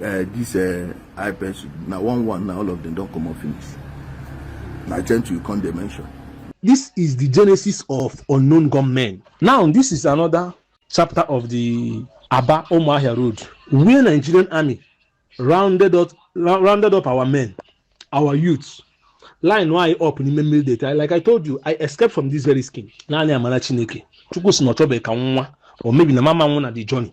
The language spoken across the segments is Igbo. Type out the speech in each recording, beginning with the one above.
Uh, this uh, eye pencil na one one na all of them don comot finish na gentle you come dey mention. this is the genesis of unknown gunmen now this is another chapter of the aba omoahia road where nigerian army rounded up rounded up our men our youths line why up n'ime mmiri data like i told you i escaped from this very skin naanị amara chineke chukwu si na ọ chọbeghị ka nwa or maybe na mama nwụ na the journey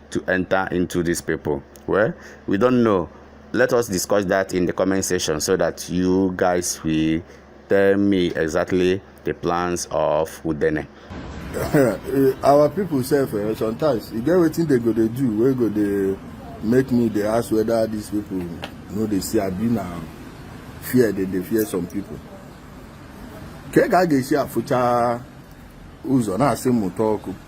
to enter into these people? Well, we don't know. Let us discuss that in the comment section so that you guys will tell me exactly the plans of Udene. Our people say for eh, sometimes you get wetin they go to do We go to make me They ask whether these people know they see abi na fear They they fear some people. Ka ị ga-aga esi afụcha ụzọ na-asị mmụta ọkụ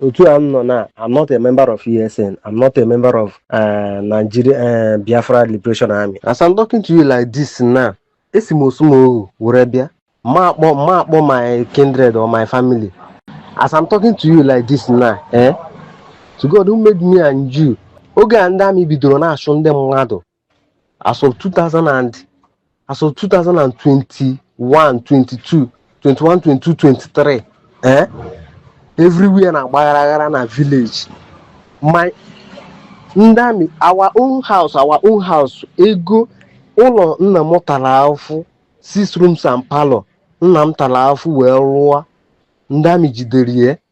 otu a m nọ now I'm not a member of ESN I'm not a member of uh, Nigeria uh, Biafra Liberation Army as I'm talking to you like this now esi m Orsumoghu were bịa ma akpọ ma akpọ my kindred or my family as I'm talking to you like this now eh to God who made me and you oge a ndị army bidoro na-achụ ndị mmadụ as of 2000 and as of 2021 22 21 22 23 eh everywhere na-agba ghara ghara na village my ndị army our own house our own house ego ụlọ nna m tara afụ six rooms and parlor nna m tara afụ wee rụọ ndị army jidere ya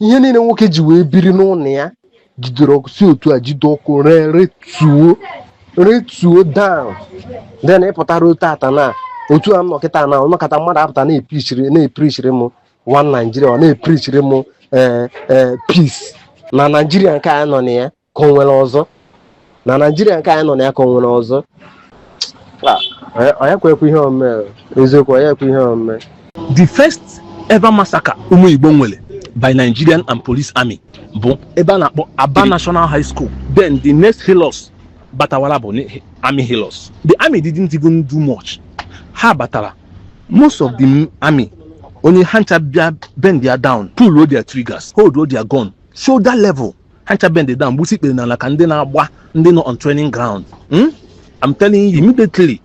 ihe niile nwoke ji wee biri n'ụlọ ya jidere ọkụ si otu a jide ọkụ ree retuo retuo down then ịpụtara otu ata na otu a m nọ kịta na a nọkata mmadụ apụta na-eprichiri na-eprichiri m one Nigeria ọ na-eprichiri m ee ee peace na Nigeria nke a nọ na ya ka o nwere ọzọ na Nigeria nke anyị nọ na ya ka o nwere ọzọ onye kwekwa ihe omume eziokwu onye ekwe ihe omume the first ever massacre ụmụ Igbo nwere by Nigerian and police army bụ ebe a na-akpọ Aba National High School then the next Hilux batawara bụ army Hilux the army didn't even do much ha batara most of the army onye ha ncha bịa bendie down pull their triggers hold their gun shoulder level ha ncha bend down gbusi ikpere n'ala ka ndị na-agba ndị nọ on training ground Hmm? I'm telling you immediately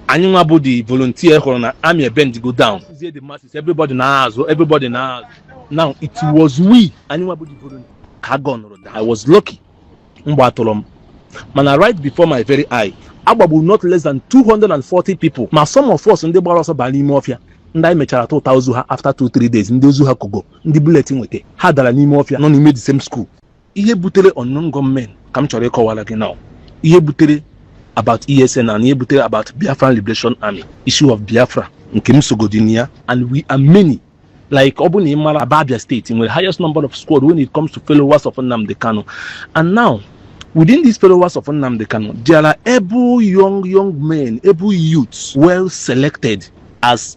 anyị nwa bụ the volunteer hụrụ na army ebendigo down Zie the masses, everybody naa azụ everybody naa azụ now it was we anyị nwa bụ the volunteer ka agụ nụrụ da I was lucky mgbọ atụrọ m mana right before my very eye a gbagburu not less than 240 people ma some of us ndị gbara ọsọ bara n'ime ọfịa ndị anyị mechara tụta ozu ha after 2-3 days ndị ozu ha kogo ndị bullet nweta ha dara n'ime ọfịa nọ n'ime the same school ihe butere unknown gunmen ka m chọrọ ịkọwara gị now ihe butere about ESN and ihe butere about Biafran Liberation Army issue of Biafra nke m sogodị na ya and we are many like ọ bụ na ị mara Aba Abia State nwere highest number of squad when it comes to followers of Nnamdi Kanu and now within these followers of Nnamdi Kanu there are able young young men able youths well selected as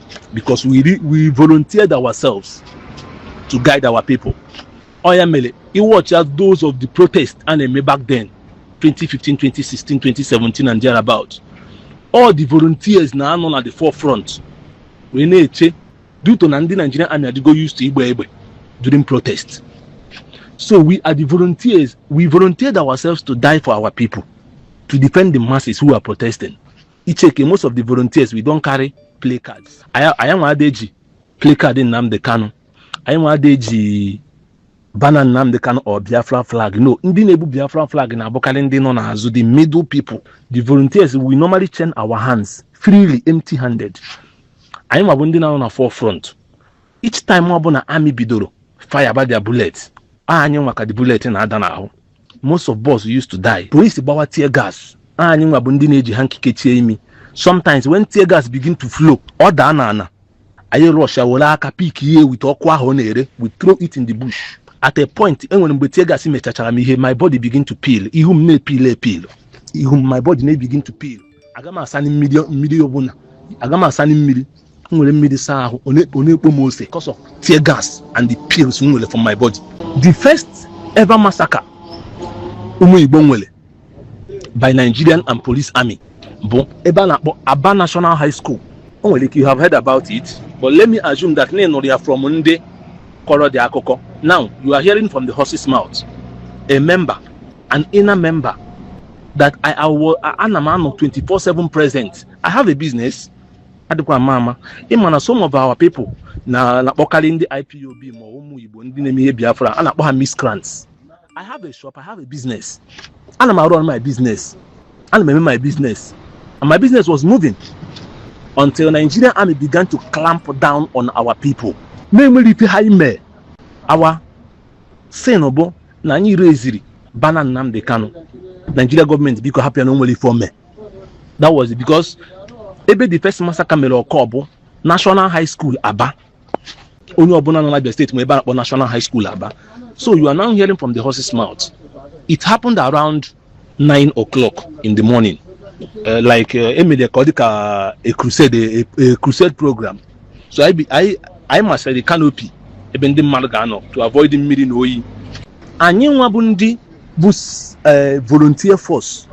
because we, re, we volunteered ourselves to guide our people ọ ya mere iwatch as those of the protest a na-eme back then 2015 2016 2017 and thereabout all the volunteers na-anọ na the forefront wee na-eche due to na ndị Nigerian army adịgo used to igbe egbe during protest so we are the volunteers we volunteered ourselves to die for our people to defend the masses who are protesting ị checkie most of the volunteers we don't carry placards anyị anyị nwa ada eji placard Nnamdi Kanu anyị nwa ada eji banner Nnamdi Kanu or Biafra flag no ndị na-ebu Biafra flag na-abụkarị ndị nọ n'azụ the middle people the volunteers we normally chain our hands freely empty handed anyị nwa bụ ndị na-anọ na forefront each time ọbụla army bidoro fireba their bullet anyị nwa ka the bullet na-ada n'ahụ most of us used to die police gbawa tear gas anyị nwa bụ ndị na-eji hanky kechie imi sometimes when tear gas begin to flow ọ daa na ana anyị rusha were aka pickie with ọkụ ahụ ọ na-ere we throw it in the bush at a point enwere mgbe tear gas mechachara m ihe my body begin to peel ihu m na-epeel epeel ihu m my body na-ebegin to peel aga m asani mmiri mmiri ọbụla aga m asani mmiri m were mmiri saa ahụ ọ na- ọ na-ekpo m ose because of tear gas and the peels m nwere from my body the first ever massacre ụmụ igbo nwere by nigerian and police army bụ ebe a na-akpọ aba national high school o nwere ike you have heard about it but let me assume that na ị nụrụ ya from ndị kọrọ the akụkọ now you are hearing from the horse's mouth a member an inner member that I, I was, ana m anọ 24/7 present. I have a business. adịkwa ama ama ịma na some of our people na na-akpọkarị ndị ipob ma ụmụ igbo ndị na-eme ihe biafra a na-akpọ ha miscrants i have a shop i have a business ana m arun my business ana m eme my business and my business was moving until nigerian army began to clamp down on our people na-enwerọ ife anyị mee our sin bụ na anyị raisiri banner nnamdi kanu nigeria government biko hapụ ya na o nwerọ ife o me that was it because ebe the first massacre mere occur bụ national high school aba onye ọbụla nọ n'abia state ma ebe a na-akpọ national high school aba so you are now hearing from the horse's mouth it happened around 9 o'clock in the morning uh, like uh, emere ka ọ dị ka a crusade a, a crusade program so anyị bi- anyị anyị masịrị the canopy ebe ndị mmadụ ga-anọ to avoid mmiri na oyi anyị nwa bụ ndị bụ s- eh, volunteer force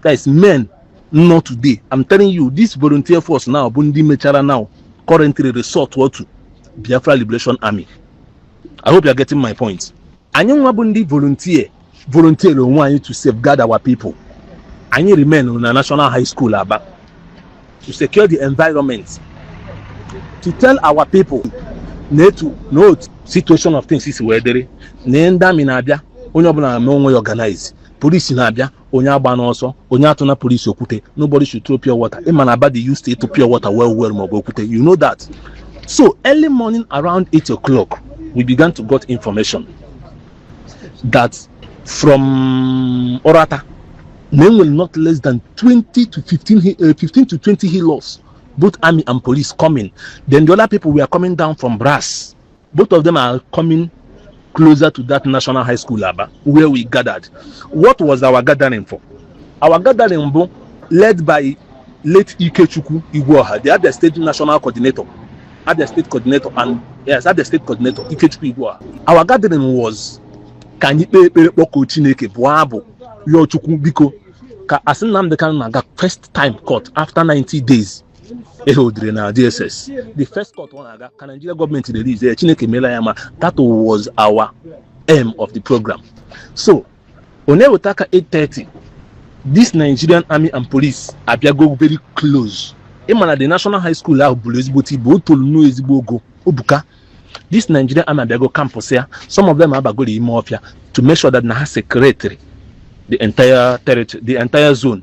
guys men not today i'm telling you this volunteer force now bụ ndị mechara now currently resort to biafra liberation army i hope you're getting my point anyị nwa bụ ndị volunteer volunteer onwe anyị to safeguard our people anyị remain na national high school aba to secure the environment to tell our people na etu na otu situation of things si wee dịrị na ndị army na-abịa onye ọbụla na-eme onwe ya organize police na-abịa onye agbana ọsọ onye atụna police okwute nobody should throw pure water ịma na aba dị used to ịtụ pure water well well maọbụ okwute you know that so early morning around 8 o'clock we began to got information that from uratta na enwere not less than 20 to 15 hi- eh, 15 to 20 hilux both army and police coming then the other people were coming down from brass Both of them are coming closer to that National High School Aba where we gathered. What was our gathering for? Our gathering bụ led by late Ikechukwu Ugwuoha, the Abia State National Coordinator, Abia State Coordinator and yes, Abia State Coordinator Ikechukwu Ugwuoha. Our gathering was ka anyị kpee ekpere kpọkuo Chineke bụọ abụ rịọ Chukwu biko ka as Nnamdi Kanu na-aga first time court after 90 days e holdere na dss the first court ọ na-aga ka nigeria gọọmenti release ya chineke meela ya ma that was our aim of the program so ọ na-eweta ka 8:30 this nigerian army and police abịago very close ị ma na the national high school ahụ buru ezigbote ibu o tolu nnọọ ezigbo ogo o buka this nigerian army abịago campus ya some of them abagoro ime ọfịa to make sure that na ha securetara the entire territory the entire zone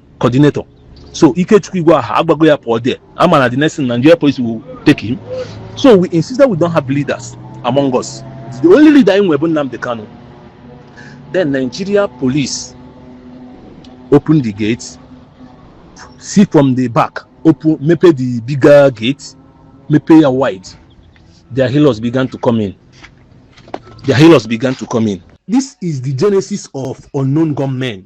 coordinator so ikechukwu igwe aha agbago ya pụọ there ama na the next thing nigeria police will take him so we insist that we don't have leaders among us the only leader anyị nwe bụ nnamdi kanu then nigeria police open the gate see from the back open mepee the bigger gate mepee ya wide their healers began to come in their healers began to come in this is the genesis of unknown gunmen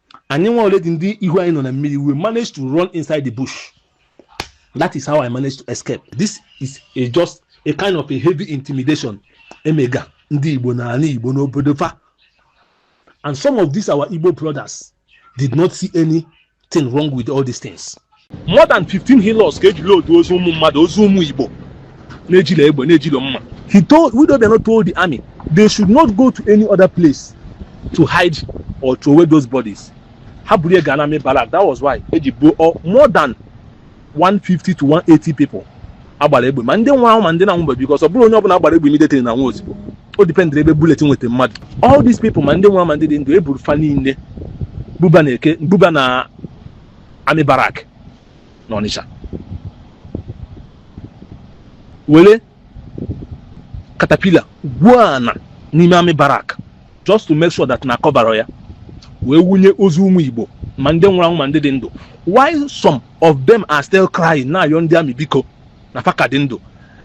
anyị nwa ole dị ndị ihu anyị nọ na mmiri we manage to run inside the bush that is how i managed to escape this is just a kind of a heavy intimidation emega ndị igbo n'ana igbo n'obodo fa and some of these our igbo brothers did not see anything wrong with all these things more than 15 Hilux ka ejiri otu ozu ụmụ mmadụ ozu ụmụ igbo na-ejilo egbe na-ejilo mma he told Willie Obiano told the army they should not go to any other place to hide or throw away those bodies ha buru ya gaa n'army barrack that was why eji gbuo more than 150 to 180 people agbara egbe ma ndị nwụrụ anwụ ma ndị na-anwụba because ọ bụrọ onye ọbụla agbara egbe immediately na-anwụ ozugbo o dependere ebe bullet nweta mmadụ all these people ma ndị nwụrụ ma ndị dị ndụ eburu fa niile buba na eke buba na army barrack na Ọnịcha were caterpillar gwuo ana n'ime army barrack just to make sure that na a coverara ya wee wụnye ozu ụmụ Igbo ma ndị nwụrụ anwụ ma ndị dị ndụ while some of them are still crying na-ayọ ndị army biko na fa ka dị ndụ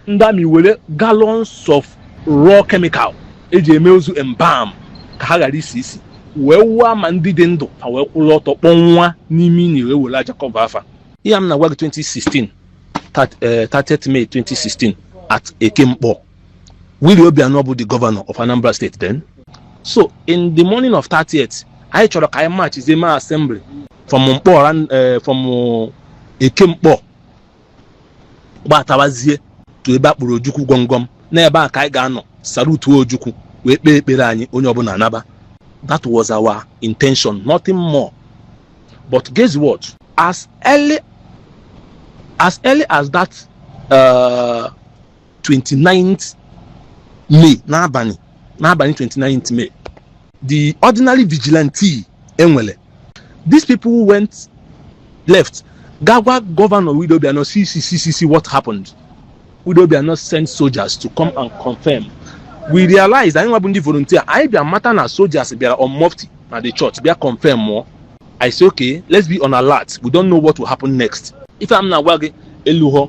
ndị army were gallons of raw chemical eji eme ozu embalm ka ha ghara isi isi wee wụọ ma ndị dị ndụ fa wee kwụrụ ọtọ kpọnwụa n'ime ini wee were aja cover fa ihe a m na-agwa gị 2016 thirt- eh, 30th May 2016 at Eke Nkpọr Willie Obianọ bụ the governor of Anambra State then so in the morning of 30th anyị chọrọ ka anyị marchzie mee assembly from Nkpọr ran- eh, from Eke Nkpọr gbatawazie to ebe a kpụrụ ojukwu gwọngwọm n'ebe a ka anyị ga-anọ salutuo ojukwu wee kpee ekpere anyị onye ọbụla anaba that was our intention nothing more but guess what as early as that uh, 29th May n'abalị 29th May the ordinary vigilante e nwele these people went left gaa gwa gọvanọ Willie Obiano see see see see see what happened Willie Obiano sent soldiers to come and confirm we realized anyị nwa bụ ndị volunteer anyị bịa mata na soldiers bịara on mufti na the church bịa confirmụọ I say okay let's be on alert we don't know what will happen next ife m na-agwa gị elughọ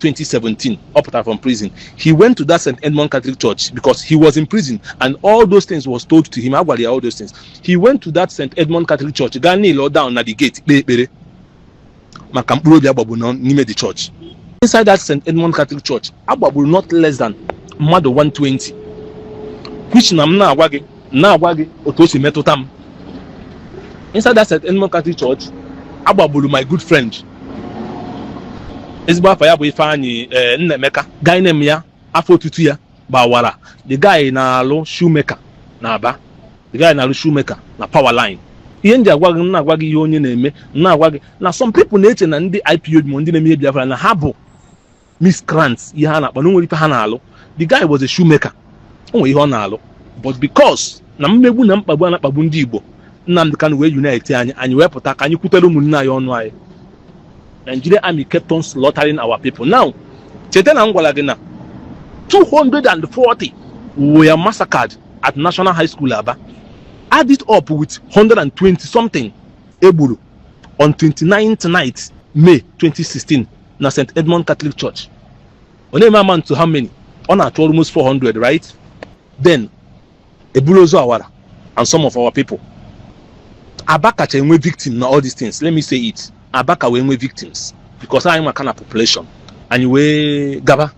2017 ọ pụtara from prison he went to that st edmund catholic church because he was in prison and all those things was told to him a gwara ya all those things he went to that st edmund catholic church gaa kneel down na the gate kpee ekpere maka mkpụrụ obi agbagburu n'ime the church inside that st edmund catholic church agbagburu not less than mmadụ 120 which na m na-agwa gị otu o si metụta m inside that St. Edmund Catholic Church agbagburu my good friend ezigbo afa ya bụ Ifeanyị ee Nnaemeka gaine m ya afọ otutu ya gbawara the guy na-alụ shoemaker na Aba the guy na-alụ shoemaker na power line ihe m ji agwa gị m na-agwa gị ihe onye na-eme m na-agwa gị na some people na-eche na ndị IPOB ma ndị na-eme ihe Biafra na ha bụ miscreants ihe ha na-akpa na o nwerọ ife ha na-alụ the guy was a shoemaker o nwere ihe ọ na-alụ but because na mmegbu na mkpagbu a na-akpagbu ndị Igbo Nnamdi Kanu wee unite anyị anyị wee pụta ka anyị kwutere ụmụnne anyị ọnụ anyị Nigeria army kept on slaughtering our people now cheta na m gwara gị na 240 were massacred at National High School Aba add it up with 120 something egburu on 29th night May 2016 na St. Edmund Catholic Church ọ na-eme amount to how many ọ na-achụ almost 400 right then eburu ozu awara and some of our people Aba kacha enwe victim na all these things let me say it Aba ka wee nwee victims because anyị nwa ka na population anyị wee gaba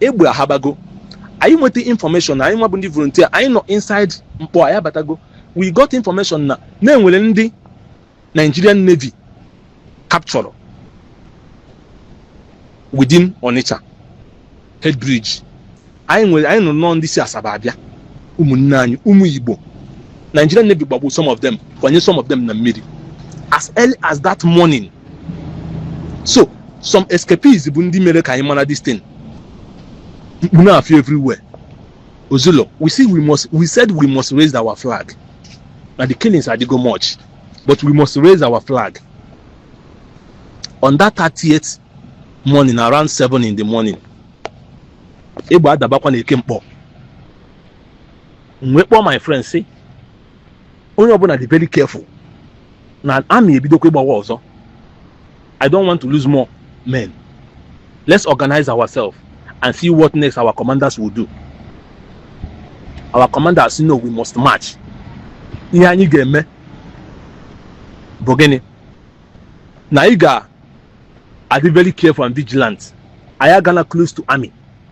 egbe ahabago anyị nweta information na anyị nwa bụ ndị volunteer anyị nọ inside Nkpor aya abatago we got information na e nwere ndị Nigerian Navy captured within Onitsha head bridge anyị nụ na ọ ndị si Asaba abịa ụmụnne anyị ụmụ Igbo Nigerian Navy gbagbu some of them kwanye some of them na mmiri as early as that morning so some escapees bụ ndị mere ka anyị mara this thing mkpu na fear everywhere ozulo we said we must raise our flag na the killings adịgo much but we must raise our flag on that 30th morning around 7 in the morning egbe adabakwa na Eke Nkpor m wee kpọọ my friend sị onye ọbụna dị very careful na army ebidokwa ịgbawa ọzọ i don't want to lose more men let's organize ourselves and see what next our commanders will do our commanders say no we must march ihe anyị ga-eme bụ gịnị na ị ga-adị very careful and vigilant anyị agala close to army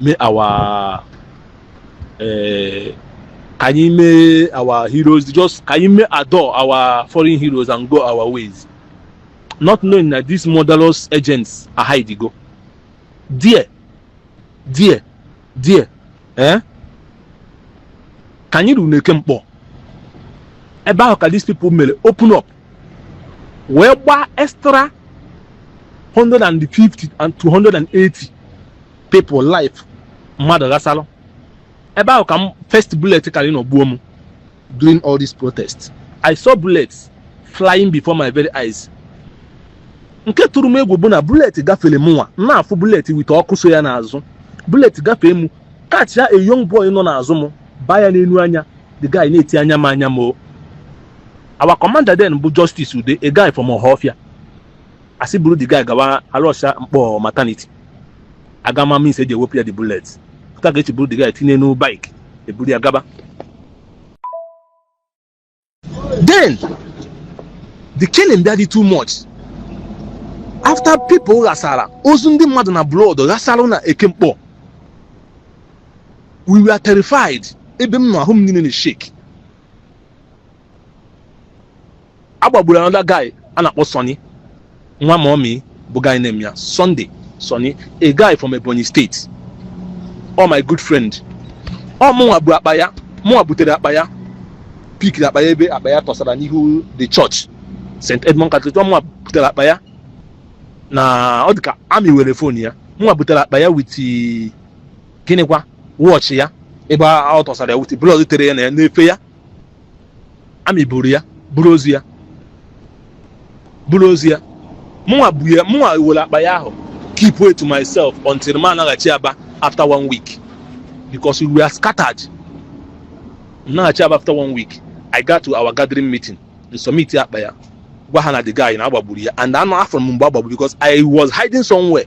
mee our eh, ka anyị mee our heroes just ka anyị mee adore our fallen heroes and go our ways not knowing that these murderous agents are hiding go there there there eh? ka anyị ruru n'eke nkpor ebe ahụ ka these people mere open up wee gbaa extra 150 and 280 people life mmadụ ghasalụ ebe ahụ ka m first bullet kara ịnọ gbuo m during all these protests i saw bullets flying before my very eyes nke tụrụ m egwu bụ na bullet gafere mụnwa na-afụ bullet with ọkụ so ya n'azụ bullet gafee m catch a young boy nọ n'azụ m baa ya n'enu anya the guy na-eti anya m anya m o our commander then bụ justice ude a guy from ohofia a sị buru the guy gawa a rush ya nkpor maternity a ga-ama means e ji ewepụ ya the bullet pụta ga echi buru the guy tinye n'enu bike e buru ya gaba then the killing bịa dị too much after people ghasara ozu ndị mmadụ na blood ghasara na eke nkpor we were terrified ebe m nọ ahụ m niile na shake a gbagburu another guy a na-akpọ Sonny nwa mummy bụ guy name ya Sunday Sonny a guy from Ebonyi State oh my good friend ọ mụnwa bu akpa ya mụnwa butere akpa ya pikiri akpa ya ebe akpa ya tọsara n'ihu the church St Edmund Catholic mụnwa butere akpa ya na ọ dị ka army were phone ya mụnwa butere akpa ya with gịnịkwa watch ya ebe ọ tọsara ya with blood tere ya na ya n'efe ya army buru ya buru ozu ya buru ozu ya mụnwa bu ya mụnwa were akpa ya ahụ keepwa to myself until m anaghachi aba after one week because we were scattered m naghachi aba after one week i got to our gathering meeting m submit akpa ya gwa ha na the guy na a gbagburu ya and anọrọ m mgbe a gbagburu because i was hiding somewhere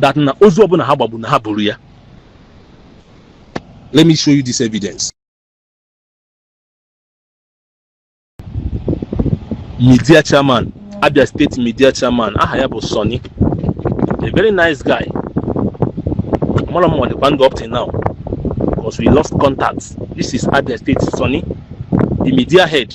that na ozu ọbụla ha gbagbu na ha buru ya let me show you this evidence media chairman Abia State media chairman aha ya bụ Sonny a very nice guy amarọ m ma ọ dịkwa ndụ up till now because we lost contact this is Abia State Sonny the media head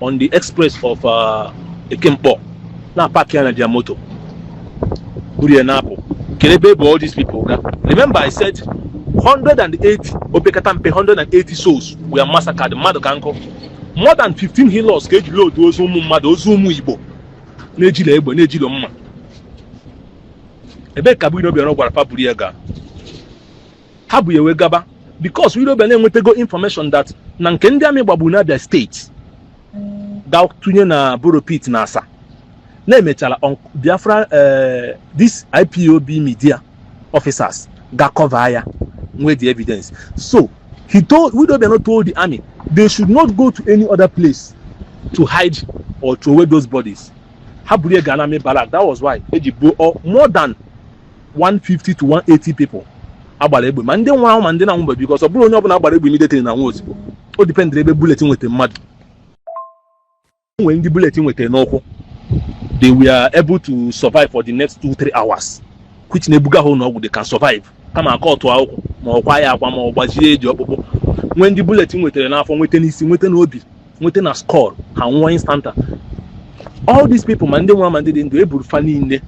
on the express of uh, Eke Nkpor na-apark ya na their motor buru ya na-apụ kedu ebe ebu all these people ga remember I said 180 opekata mpe 180 souls were massacred mmadụ ka nkụ more than 15 Hilux ka eji load ozu ụmụ mmadụ ozu ụmụ Igbo na-ejilọ egbe na-ejilọ mma ebee ka Willie Obiano gwara fa buru ya gaa ha bu ya wee gaba because Willie Obiano enwetago information that na nke ndị amị gbagburu n'Abia steeti ga tụnye na borrow pit na Asa na emechara on- Biafra eh, this IPOB media officers ga cover ya nwee the evidence so he told Willie Obiano told the army they should not go to any other place to hide or throw away those bodies ha buru ya gaa n'amị barak that was why eji gbuo ọ- more than 150 to 180 people agbara egbe ma ndị nwụrụ anwụ ma ndị na-anwụbeghị because ọ bụrọ onye ọbụla agbara egbe immediately na-anwụ ozugbo o dipendịrị ebe bullet nweta mmadụ nwere ndị bullet nweta n'ụkwụ they were able to survive for the next 2-3 hours which na ebuga ha ụlọ ọgwụ they can survive kama a cut ụkwụ ma ọ kwaa ya akwa ma ọ gbajie eji ọkpụkpụ nwere ndị bullet nwetara n'afọ nweta n'isi nweta n'obi nweta na skull ha nwụọ instanta all these people ma ndị nwụrụ ma ndị dị ndụ eburu fa niile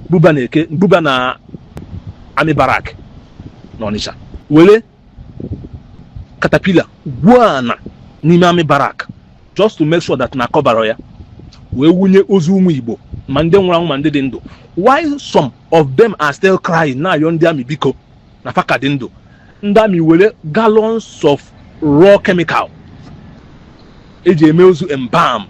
buba na eke buba na amị barak na ọnịcha were katapila gwuo ana n'ime amị barak just to make sure that na a cover ya wee wunye ozu ụmụ igbo ma ndị nwụrụ anwụ ma ndị dị ndụ while some of them are still crying na-ayọ ndị amị biko na fa ka dị ndụ ndị amị were gallons of raw chemical eji eme ozu embalm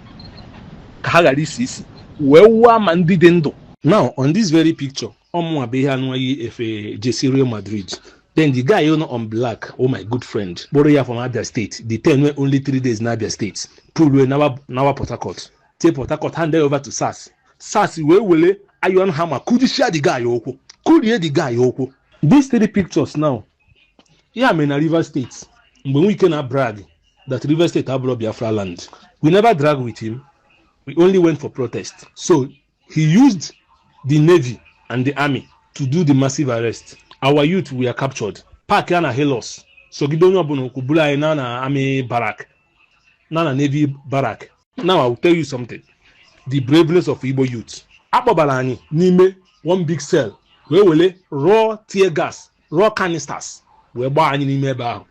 ka ha ghara isi isi wee wụọ ma ndị dị ndụ now on this very picture ọ mụnwa bụ onye a nụwa yi efe jersey real madrid then the guy nọ on black ọ my good friend kpụrụ ya from abia state detain ya only three days na abia state kpụlụ ya nawa nawa port harcourt tie port harcourt hand ya over to sars sars wee were iron hammer kụjichia the guy ụkwụ kụrie the guy ụkwụ these three pictures now ihe a mere na rivers state mgbe wike na-abrag that rivers state abụrọ biafra land we never drag with him we only went for protest so he used the navy and the army to do the massive arrest our youth were captured park ya na hilux zọgide onye ọbụla ụkwụ buru anyị naa na army barak na na navy barak now i will tell you something the braveness of igbo youth a kpọbara anyị n'ime one big cell wee were raw tear gas raw canisters wee gbaa anyị n'ime ebe ahụ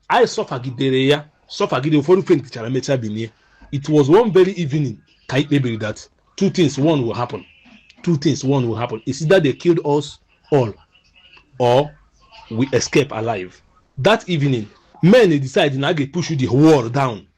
anyị sọfagidere ya sọfagide ụfọdụ fentichara mechaa binie it was one very evening ka anyị kpebiri that two things one will happen two things one will happen it's either they killed us all or we escape alive that evening men decide na a ga-push the wall down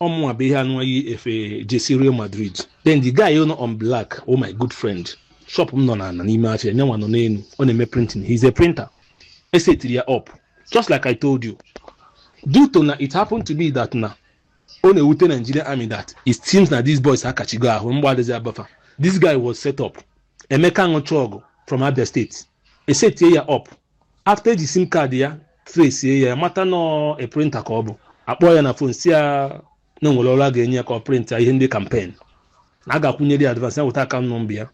ọ mụnwa bụ ihe a nụwa yi efe jesi Real Madrid then the guy nọ on black oh my good friend shop m nọ n'ana n'ime afịa nyanwa nọ n'elu ọ na-eme printing he's a printer e setiri ya up just like I told you due to na it happened to be that na ọ na-ewute Nigerian army that it seems na these boys akachigo ahụ mgbọ adịzi aba fa this guy was set up Emeka Anụchọgụ from Abia State e setie ya up after e ji sim card ya tresie ya mata na ọ printer ka ọ bụ a kpọọ ya na phone sị ya na o nwere ọrụ a ga-enye ya ka ọ prịnta ihe ndị campaign na a ga-akwụnyere ya advance ya weta account number ya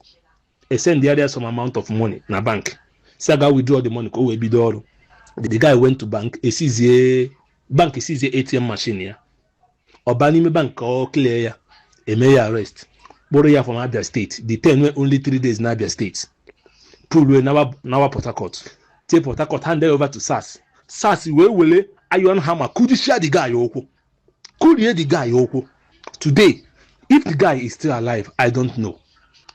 e sendara ya some amount of money na bank sị ya gaa withdraw the money ka o wee bido ọrụ the guy went to bank esizie bank esizie atm machine ya ọ baa n'ime bank ka ọ clear ya e mee ya arrest kpụrụ ya from abia state detain nwe only three days na abia state bulu e nawa nawa port harcourt tie port harcourt hand over to sars sars wee were iron hammer kụjisia the guy ụkwụ kụrie the guy ụkwụ today if the guy is still alive i don't know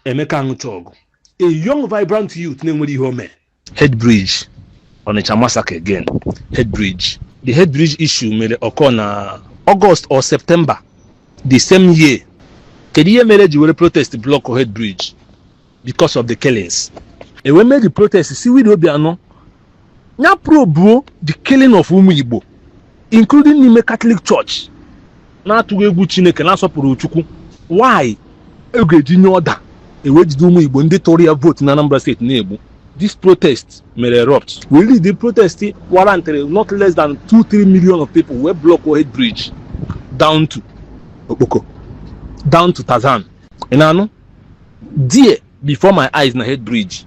emeka anụchọgụ a young vibrant youth na-enwerọ ihe o mee head bridge Onitsha massacre again head bridge the head bridge issue mere occur na August or September the same year kedu ihe mere ji were protest block head bridge because of the killings e wee mee the protest si Willie Obianọ ya probuo the killing of ụmụ Igbo including n'ime Catholic Church na-atụghị egwu Chineke na-asọpụrụ Chukwu why a ga-eji nye order e wee jide ụmụ Igbo ndị tụrụ ya vote na Anambra state na-egbu this protest mere erupt we lead the protest warranted not less than 2-3 million of people wee blockuo Head Bridge down to Okpoko down to Tarzan ị na-anụ there before my eyes na Head Bridge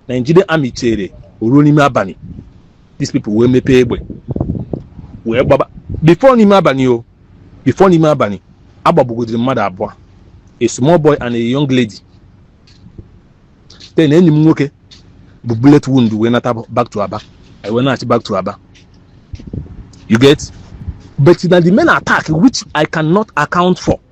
Nigerian army chere o ruo n'ime abalị these people wee mepee egbe wee gbaba before n'ime abalị o before n'ime abalị agbagbugodiri mmadụ abụọ a small boy and a young lady then enyi m nwoke bu bullet wound wee nata back to aba i wee nachi back to aba you get but na the main attack which i cannot account for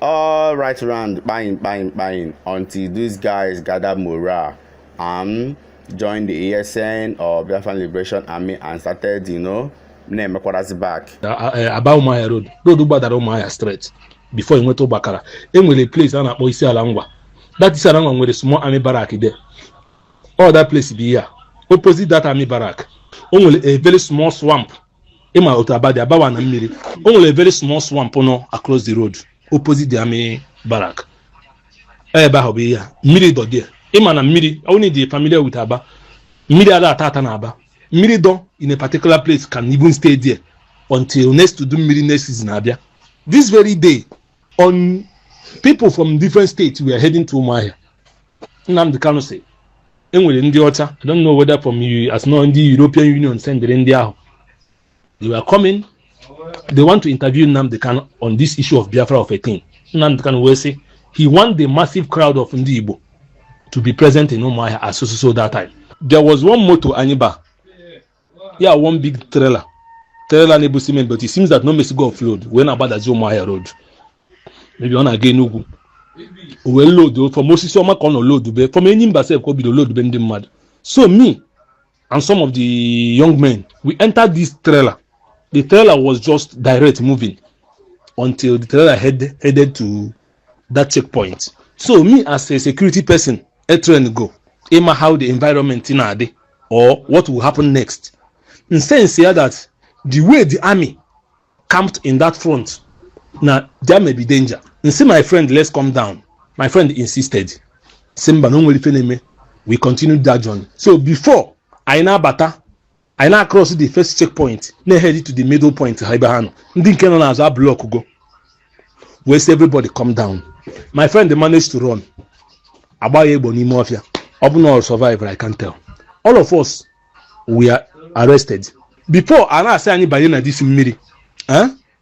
all right round kpayin kpayin kpayin until these guys gather morale and join the ESN or Biafran Liberation Army and started you know na-emekwarazi back eh, aba ụmụahịa road road gbadara ụmụahịa straight before ị nweta ubakala e nwere place a na-akpọ isi ala ngwa that isi ala ngwa nwere small army barrack there all that place bụ ihe a opposite that army barrack o nwere a very small swamp ị ma otu Aba dị abawa na mmiri o nwere a very small swamp nọ across the road opposite the army barrack ebe ahụ bụ ihe a mmiri dọ there ị ma na mmiri onye dị familiar with Aba mmiri ada ata ata na Aba mmiri dọ in a particular place can even stay there until next udu mmiri next season abịa this very day on people from different states were heading to Umuahia Nnamdi Kanu sị e nwere ndị ọcha I don't know whether from US no ndị European Union sendịrị ndị ahụ they were coming they want to interview Nnamdi Kanu on this issue of Biafra of a thing Nnamdi Kanu wee sị he want the massive crowd of ndị Igbo to be present in Umuahia as so so that time there was one motor anyị ba ya one big trailer trailer na-ebu cement but it seems that na o mesigo offload wee na-agbadazi Umuahia road maybe ọ na-aga Enugwu o wee lodu from Osisioma ka ọ nọ lodube from Enyimba sef ka o bido lodube ndị mmadụ so me and some of the young men we entered this trailer the trailer was just direct moving until the trailer head, headed to that checkpoint so me as a security person e traingo ịma how the environment na-adị or what will happen next m sense ya that the way the army camped in that front na there may be danger m sị my friend let's come down my friend insisted sị mba na o nwerọ ife na-eme we continued that journey so before anyị na-abata anyị na-across the first checkpoint na-ehead to the middle point ha ebe ha nọ ndị nke nọ n'azụ ablockgo wee sị everybody come down my friend managed to run a gba ya egbuo n'ime ọfịa ọ bụ na ọ survive I can't tell all of us were arrested before a na-asị anyị banye na this mmiri eh?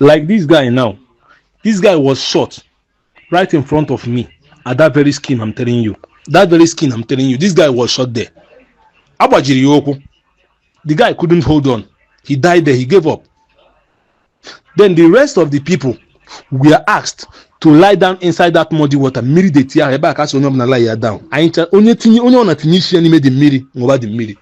like this guy now this guy was shot right in front of me at that very scene i'm telling you that very scene i'm telling you this guy was shot there a gbajiri ya ụkwụ the guy couldn't hold on he died there he gave up then the rest of the people were asked to lie down inside that muddy water mmiri dirty ahụ ebe a ka a sị onye ọbụla lie ya down anyị ncha onye tinye onye ọbụna tinye isi ya n'ime the mmiri ṅụba the mmiri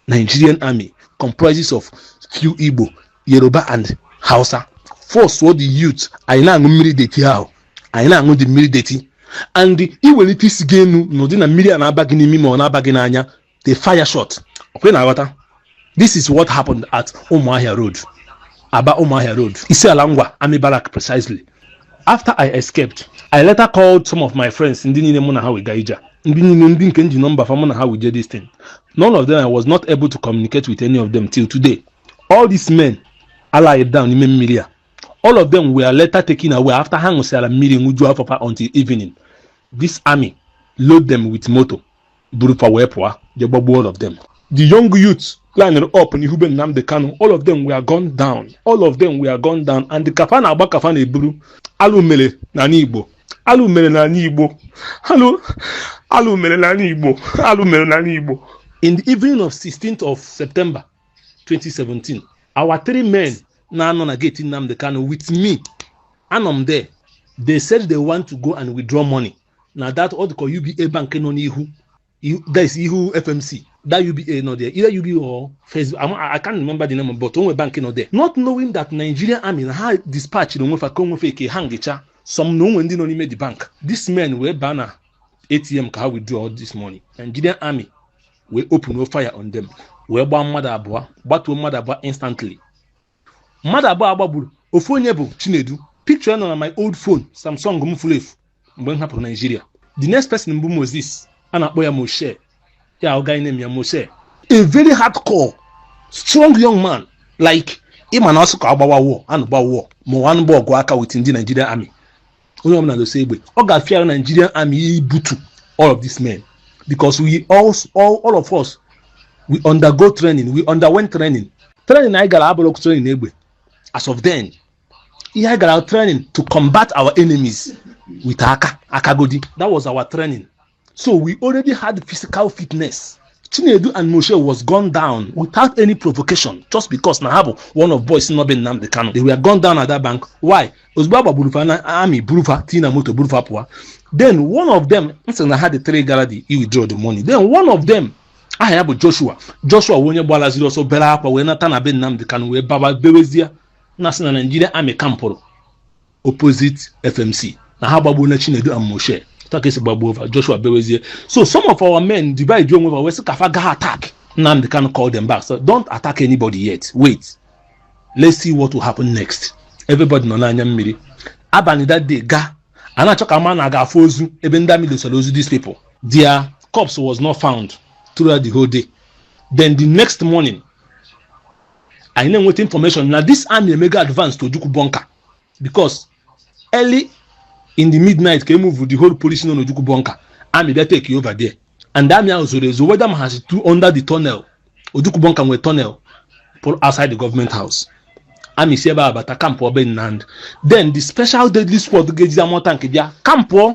Nigerian army comprises of few Igbo Yoruba and Hausa forceụọ the youth anyị na-aṅụ mmiri dirty ahụ anyị na-aṅụ the mmiri dirty and i welite isi gị enu n'ụdị na mmiri a na-aba gị n'imi ma ọ na-aba gị n'anya they fire shot ọkwa ị na-aghọta this is what happened at Umuahia road Aba Umuahia road Isiala Ngwa army barrack precisely after i escaped i later called some of my friends ndị niile mụ na ha wee ga ije a ndị niile ndị nke m ji nọmba fa mụ na ha wee je this thing none of them i was not able to communicate with any of them till today all these men a lie down n'ime mmiri a all of them were later taken away after ha ṅụsịara mmiri ṅụjuo afọ fa until evening this army load them with moto buru fa wee pụọ je gbagbuo all of them the young youth lined up n'ihu be Nnamdi Kanu all of them were gunned down all of them were gunned down and the ka fa na-agba ka fa na-eburu alụ mere n'ala Igbo alụ mere n'ala Igbo alụ alụ mere n'ala Igbo alụ mere n'ala Igbo in the evening of 16th of September 2017 our three men na-anọ na gate Nnamdi Kanu with me anọ m there they said they want to go and withdraw money na that ọ dịka UBA bank nọ n'ihu that is ihu FMC that UBA nọ there either UBA or First Bank I, I can't remember the name but o nwe bank nọ there not knowing that Nigerian army na ha dispatch na onwe fa ka onwefe eke ha ngecha some na o nwe ndị nọ n'ime the bank these men wee baa na ATM ka ha withdraw all this money Nigerian army wee open fire on them wee gbaa mmadụ abụọ gbatuo mmadụ abụọ instantly mmadụ abụọ a gbagburu ofu onye bụ chinedu picture nọ na my old phone samsung m furu efu mgbe m hapụrụ naijiria the next person bụ moses a na-akpọ ya moshe ya guy name ya moshe a very hardcore strong young man like ị ma na ọ sụ ka a gbawa war a nụba war ma a nụba ọgụ aka with ndị nigerian army onye ọbụla dosa egbe ọ ga-afịara Nigerian army ahụ ibutu all of these men because we all, all, all of us we undergo training we underwent training training anyị gara abụrọ training egbe as of then ihe anyị gara training to combat our enemies with aka akagodi that was our training so we already had physical fitness chinedu and moshe was gunned down without any provocation just because na ha bụ one of boys nọ be nnamdi kanu they were gunned down at that bank why ozugbo a gbagburu fa na army buru fa tii na moto buru fa pụwa then one of them m sị na ha dị three gara the i withdraw the money then one of them aha ya bụ joshua joshua bụ onye gbalaziri ọsọ bere akwa wee nata na be nnamdi kanu wee baba bewezie na sị na naijiria army kampụrụ opposite fmc na ha gbagbuona chinedu and moshe otu a ka e si gbagbuo fa joshua bewezie so some of our men divide onwe ha wee sị ka fa ga attack nnamdi kanu call them back so don't attack anybody yet wait let's see what will happen next everybody nọ n'anya mmiri abalị that day ga a na-achọ ka a ma na a ga-afụ ozu ebe ndị army dosara ozu these people their corpse was not found throughout the whole day then the next morning anyị na-enweta information na this army emego advance to ojukwu bunker because early in the midnight ka e move the whole police nọ n'ojukwu bunker army bịa take over there and army ahụ zoro ezo whether ma ha si tu under the tunnel ojukwu bunker nwere tunnel pụrụ outside the government house army si ebe a bata kampụọ be nnamdi then the special deadly squad ga-ejizi armoured tank bịa kampụọ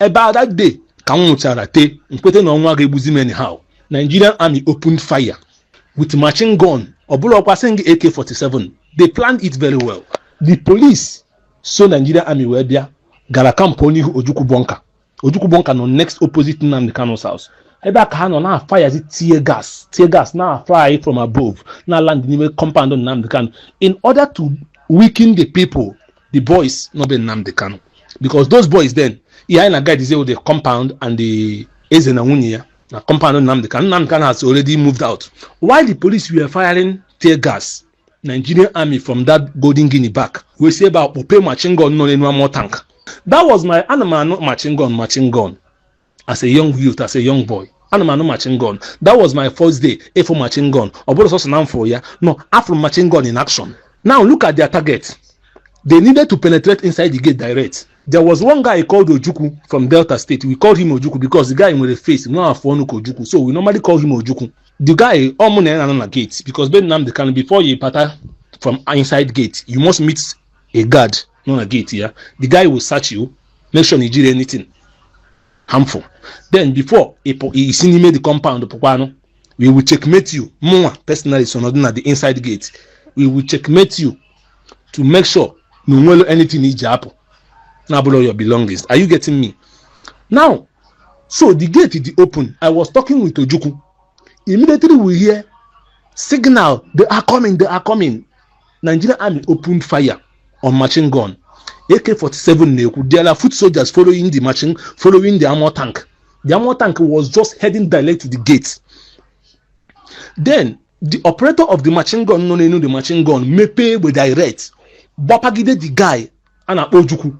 ebe a that day ka m nwụchara tee nkwete na ọnwụ ga-egbuzi m anyhow nigerian army opened fire with machine gun ọ bụrọkwa sị gị ak-47 they planned it very well the police so nigerian army wee bịa gara camp n'ihu ojukwu bunker ojukwu bunker nọ next opposite nnamdi kanu's house ebe a ka ha nọ na-afirezi tear gas tear gas na-afly from above na-aland n'ime compound nnamdi kanu in order to weaken the people the boys nọ be Nnamdi Kanu because those boys then ihe anyị na-aguardizi bụ the compound and the eze na nwunye ya na compound Nnamdi Kanu Nnamdi Kanu has already moved out while the police were firing tear gas Nigerian army from that Golden Guinea back wee si ebe a kpọpee machine gun nọ n'elu armour tank that was my ana m anụ machine gun machine gun as a young youth as a young boy ana m anụ machine gun that was my first day ịfụ machine gun ọ bụrọ sọsọ na m fụrụ ya no afụrụ m machine gun in action now look at their target they needed to penetrate inside the gate direct there was one guy called ojukwu from delta state we called him ojukwu because the guy nwere face nwe afụ ọnụ ka ojukwu so we normally call him ojukwu the guy ọ mụ na ya nọ na gate because be nnamdi kanu before you bata from inside gate you must meet a guard nọ na gate ya the guy will search you make sure na i jirọ anything harmful then before i si n'ime the compound pụkwanụ we will checkmate you mụnwa personally so nọdụ na the inside gate we will checkmate you to make sure na o nwerọ anything i ji apụ na-abụrọ your belongings are you getting me now so the gate dị open i was talking with ojukwu immediately we hear signal they are coming they are coming Nigeria Army opened fire on machine gun. AK-47 na-ekwu there are foot soldiers following the machine following the armor tank. The armor tank was just heading direct to the gate. Then the operator of the machine gun nọ n'elu the machine gun mepee egbe direct gbapagide the guy a na-akpọ Ojukwu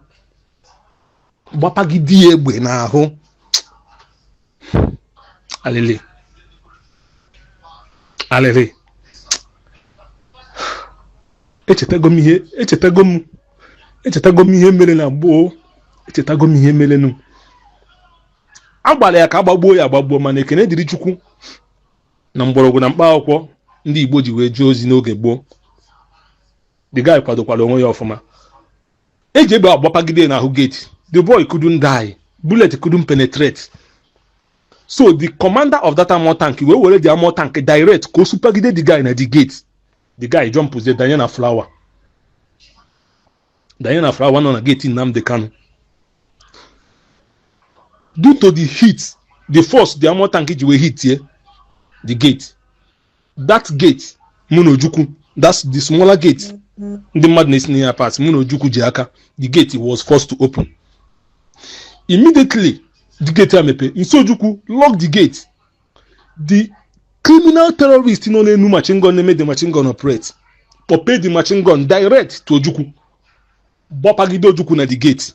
gbapagide ya egbe n'ahụ alịlị alịlị echetago m ihe echetago m echetago m ihe mere na gboo echetago m ihe merenụ a gbara ya ka a gbagbuo ya agbagbuo mana ekene dịrị chukwu na mgbọrọgwụ na mkpa akwụkwọ ndị igbo ji wee jee ozi n'oge gboo the guy kwadokwara onwe ya ọfụma eji egbe agbapagide n'ahụ gate the boy couldn't die bullet couldn't penetrate so the commander of that armor tank wee were the armor tank direct ka o supagide the guy na the gate the guy jump ze danye na flower danye na flower nọ na gate Nnamdi Kanu due to the heat the force the armor tank ji wee hit ye the gate that gate mụ na ojukwu that's the smaller gate ndị mmadụ na-esi na ya pass mụ na ojukwu ji aka the gate was forced to open immediately the gate a mepe m sị ojukwu lock the gate the criminal terrorist nọ n'enu machine gun na-eme the machine gun operate kpọpee the machine gun direct to ojukwu gbapagide ojukwu na the gate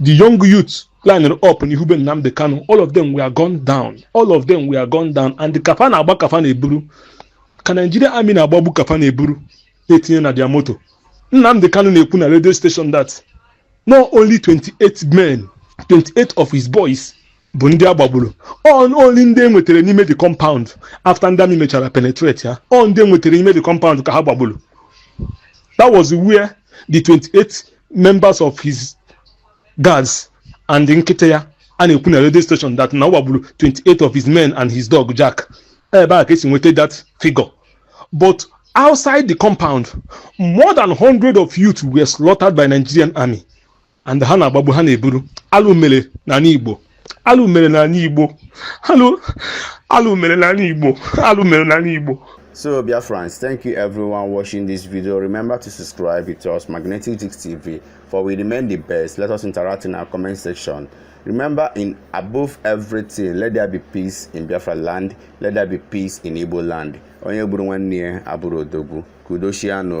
the young youth lined up n'ihu be Nnamdi Kanu all of them were gunned down all of them were gunned down and ka fa na-agba ka fa na-eburu ka Nigeria army na-agbagbu ka fa na-eburu na-etinye na their moto Nnamdi Kanu na-ekwu na radio station that na ọ only 28 men 28 of his boys bụ ndị a gbagburu only ndị e nwetara n'ime the compound after ndị army mechara penetrate ya ọ ndị e nwetara n'ime the compound ka ha gbagburu that was where the 28 members of his guards and nkịta ya a na-ekwu na radio station that na a gbagburu 28 of his men and his dog jack ebe a ka esi nweta that figure but outside the compound more than 100 of youth were slaughtered by nigerian army and ha na-agbagbu ha na-eburu alụ mere n'ala igbo alụ mere n'ala igbo alụ alụ mere n'ala igbo alụ mere n'ala igbo So, dear friends, thank you everyone watching this video. Remember to subscribe to us, Magnetic Jigs TV, for we remain the best. Let us interact in our comment section. Remember, in above everything, let there be peace in Biafra land, let there be peace in Igbo land. Onye buru nwanne ya abụrụ odogwu. kwudoshianụ